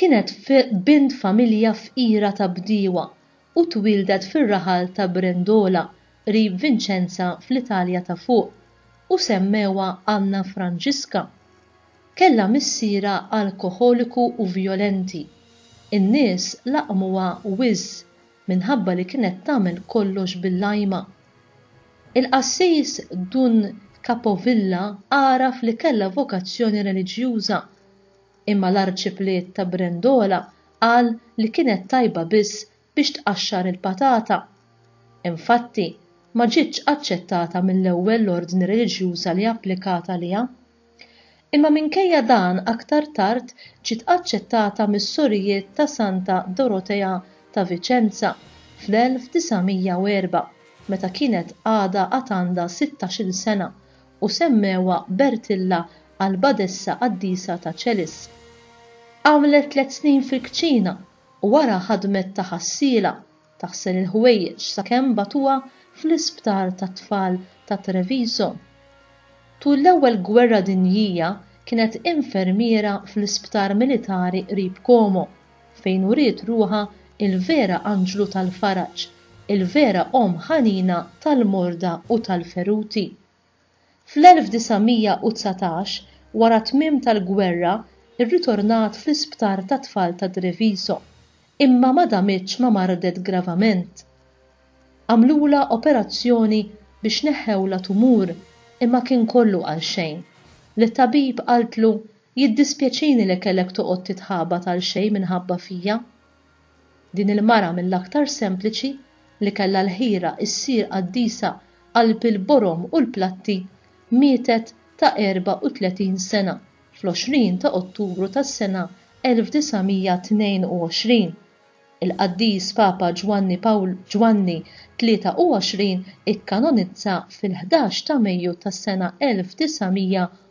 Kienet bint familja fqira ta' bdiewa u twieldet fir-raħal ta' Brendola qrib Vinċenza fl-Italja ta' Fuq u semmewha Anna Franġiska. Kellha missierha alkoħoliku u vjolenti. In-nies laqqmuha wiżż minħabba li kienet tagħmel kollox bil-lajma. Il-qassis Dun Capovilla għaraf li kellha vokazzjoni reliġjuża imma l-Arċipliet ta' Brendola qal li kienet tajba biss biex tqaxxar il-patata. Infatti, ma ġietx aċċettata mill-ewwel l-ordni reliġjuża li applikat għaliha. Imma minkejja dan aktar tard ġiet aċċettata mis-Sorijiet ta' Santa Dorotea ta' Viċenza fl-1904, meta kienet għadha għad għandha sittax-il sena u semmewha Bertilla għall-Badessa Qaddisa ta' Ċelis. Għamlet tliet snin fil-kċina u wara ħadmet ta' ħassiela, taħsel il-ħwejjeġ sakemm bagħtuha fl-isptar tat-tfal ta' Treviso. Tul l-Ewwel Gwerra Dinjija kienet infermiera fl-isptar militari qrib Como. fejn uriet ruħha l-vera anġlu tal-faraġ, il-vera omm ħanina tal-morda u tal-feruti. Fl-1919, wara t-tmiem tal-gwerra, irritornat fl-isptar tat-tfal ta' Treviso, imma ma damitx ma mardet gravament. Għamlulha operazzjoni biex neħħewlha tumur imma kien kollu għalxejn. L-tabib qaltlu Jiddispjaċini li kellek toqgħod titħabat għal xejn minħabba fija. Din il-mara mill-aktar sempliċi li kellha l-ħira issir qaddisa qalb il-borom u l-platti mietet ta' 34 sena fl-20 ta' Ottubru tas-sena 1922. Il-Qaddis Papa Ġwanni Pawl Ġwanni 23 ikkanonizza fil-ħdax ta' Mejju tas-sena 1922.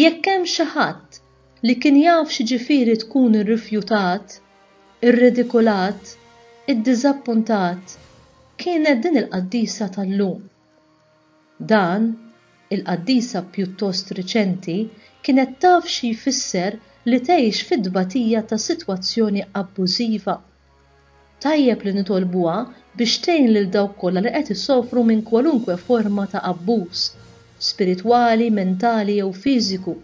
Jekk hemm xi ħadd li kien jaf x'jiġifieri tkun irrifjutat, irridikulat, iddiżappuntat, kienet din il-qaddisa tal-lum. Dan, il-qaddisa pjuttost riċenti kienet taf xi jfisser li tgħix fit-tbatija ta' sitwazzjoni abbużiva Tajjeb li nitolbuha biex tgħin lil dawk kollha li qed isofru minn kwalunkwe forma ta' abbuż, spiritwali, mentali jew fiżiku.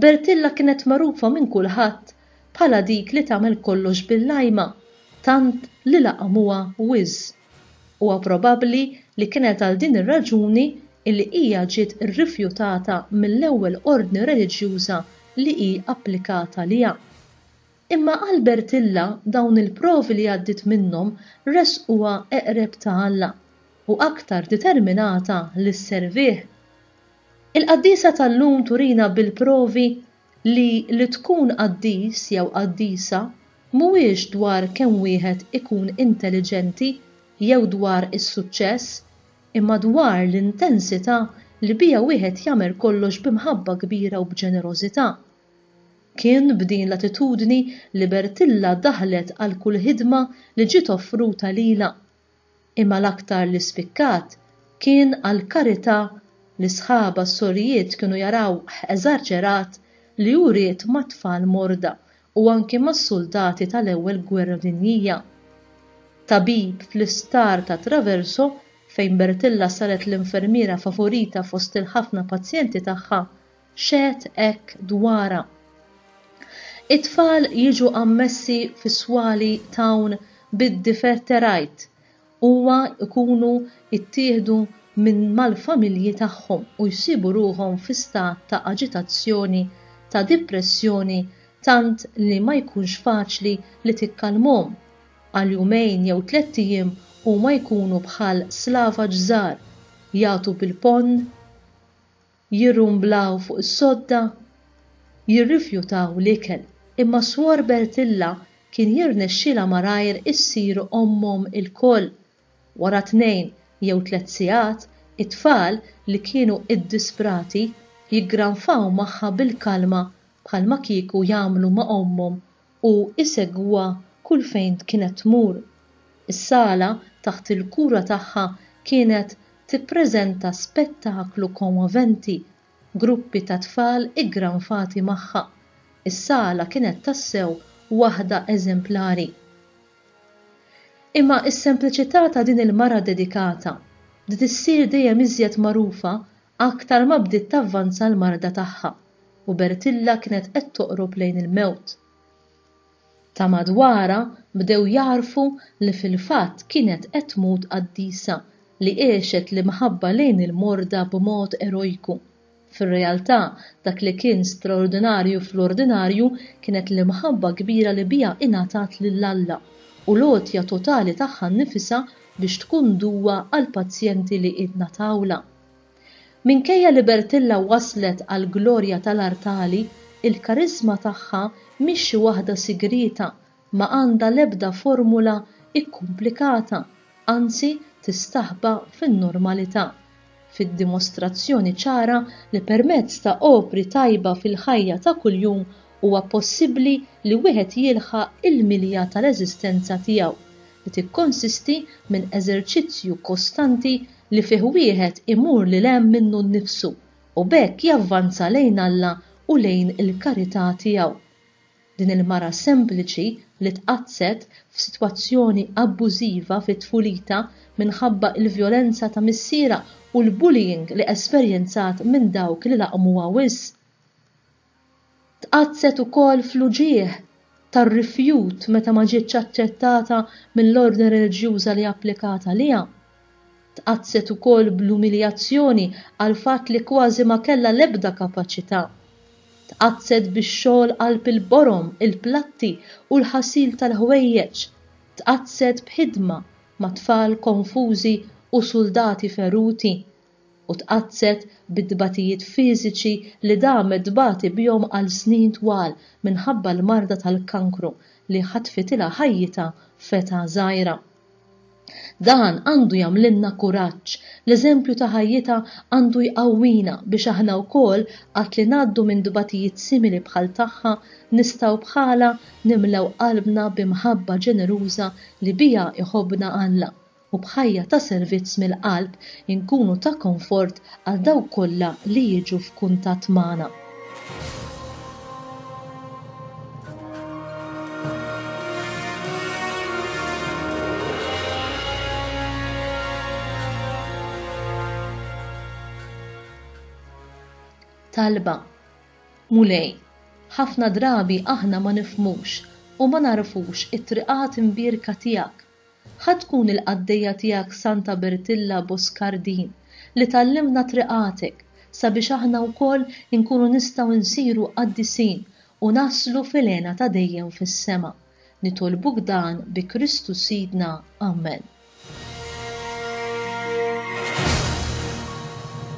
Bertilla kienet magħrufa minn kulħadd bħala dik li tagħmel kollox bil-lajma tant li laqmuha wiżż. Huwa probabbli li kienet għal din ir-raġuni li hija ġiet irrifjutata mill-ewwel ordni reliġjuża li hi applikat għaliha. Imma għal Bertilla dawn il-provi li għaddiet minnhom ressquha eqreb ta' Alla u aktar determinata li sservih. Il-qaddiesa tal-lum turina bil-provi li li tkun qaddis jew qaddisa mhuwiex dwar kemm wieħed ikun intelliġenti jew dwar is-suċċess imma dwar l-intensità li biha wieħed jagħmel kollox b'imħabba kbira u b'ġenerożità. Kien b'din l-attitudni li Bertilla daħlet għal kull ħidma li ġiet offruta lilha. Imma l-aktar li spikkat kien għall-karità li sħabha s-sorijiet kienu jarawh eżarċerat li hu ried mat-tfal morda u anki mas-suldati tal-Ewwel Gwerra Dinjija. Tabib fl-isptar ta' Traverso, fejn Bertilla saret l-infermiera favorita fost il-ħafna pazjenti tagħha, xehed hekk dwarha. It-tfal jiġu ammessi fis-swali t'hawn bid-differterajt huwa jkunu ttieħdu minn mal-familji tagħhom u jsibu ruħhom fi stat ta' aġitazzjoni ta' dipressjoni tant li ma jkunx faċli li tikkalmhom. Għal jumejn jew tlett ijiem huma jkunu bħal slavaġ żgħar, jagħtu bil-ponn, jirrumblaw fuq is-sodda, jirrifjutaw l-ikel, imma Swor Bertilla kien jirnexxilha malajr issir ommhom ilkoll. Wara tnejn jew tliet sigħat, it-tfal, li kienu iddisprati, jiggranfaw magħha bil-kalma bħalma kieku jagħmlu ma' ommhom u jsegwuha kull fejn kienet tmur. Is-sala taħt il-kura tagħha kienet tippreżenta spettaklu kommoventi, gruppi ta' tfal iggranfati magħha. Is-sala kienet tassew waħda eżemplari. Imma s-sempliċità ta' din il-mara dedikata bdiet issir dejjem iżjed magħrufa aktar ma bdiet tavvanza l-marda tagħha. u Bertilla kienet qed toqrob lejn il-mewt. Ta' madwarha bdew jagħrfu li fil-fatt kienet qed tmut qaddisa li għexet l-imħabba lejn il-morda b'mod erojku. Fir-realtà, dak li kien straordinarju fl-ordinarju kienet l-imħabba kbira li biha ingħatat lil Alla u l-għotja totali tagħha nnifisha biex tkun duwa għall-pazjenti li ingħatawlha. Minkejja li Bertilla waslet għall-glorja tal-artali, il-kariżma tagħha mhix xi waħda sigrieta, ma għandha l-ebda formula kkumplikata, anzi tistaħba fin-normalità, fid-dimostrazzjoni ċara li permezz ta' opri tajba fil-ħajja ta' kuljum huwa possibbli li wieħed jilħaq il-milja tal-eżistenza tiegħu, li tikkonsisti minn eżerċizzju kostanti li fih wieħed imur lil hemm minnu nnifsu u b'hekk javvanza lejn Alla u lejn il-karità tiegħu. Din il-mara sempliċi li tqaddset f'sitwazzjoni abbużiva fi tfulitha minħabba l-vjolenza ta' missierha u l-bullying li esperjenzat minn dawk li laqmuha wisq, Tqaddset ukoll fl-uġigħ tar-rifjut meta ma ġietx aċċettata mill-ordni reliġjuża li applikat għaliha. Tqaddset ukoll bl-umiljazzjoni għall-fatt li kważi ma kellha l-ebda kapaċità. Tqaddset bix-xogħol qalb il-borom, il-platti u l-ħasil tal-ħwejjeġ. Tqaddset b'ħidma ma' tfal konfużi u suldati feruti u tqaddset bit-tbatijiet fiżiċi li damet tbati bihom għal snin twal minħabba l-marda tal-kankru li ħatfitilha ħajjitha f'età żgħira. Dan għandu jagħmlilna kuraġġ, l-eżempju ta' ħajjitha għandu jqawwina biex aħna wkoll qatt li ngħaddu minn tbatijiet simili bħal tagħha nistgħu bħalha nimlew qalbna bi mħabba ġeneruża li biha jħobbna Alla. u b'ħajja ta' servizz mill-qalb inkunu ta' konfort għal dawk kollha li jiġu f'kuntatt magħna. Talba, Mulej, ħafna drabi aħna ma nifhmux u ma nagħrfux it-triqat imbierka tiegħek. Ħa tkun il-qaddejja tiegħek Santa Bertilla Boscardin li tgħallimna triqatek sabiex aħna wkoll inkunu nistgħu nsiru qaddisin u naslu fil-hena ta' dejjem fis-sema. Nitolbuk dan bi Kristu Sidna. Amen.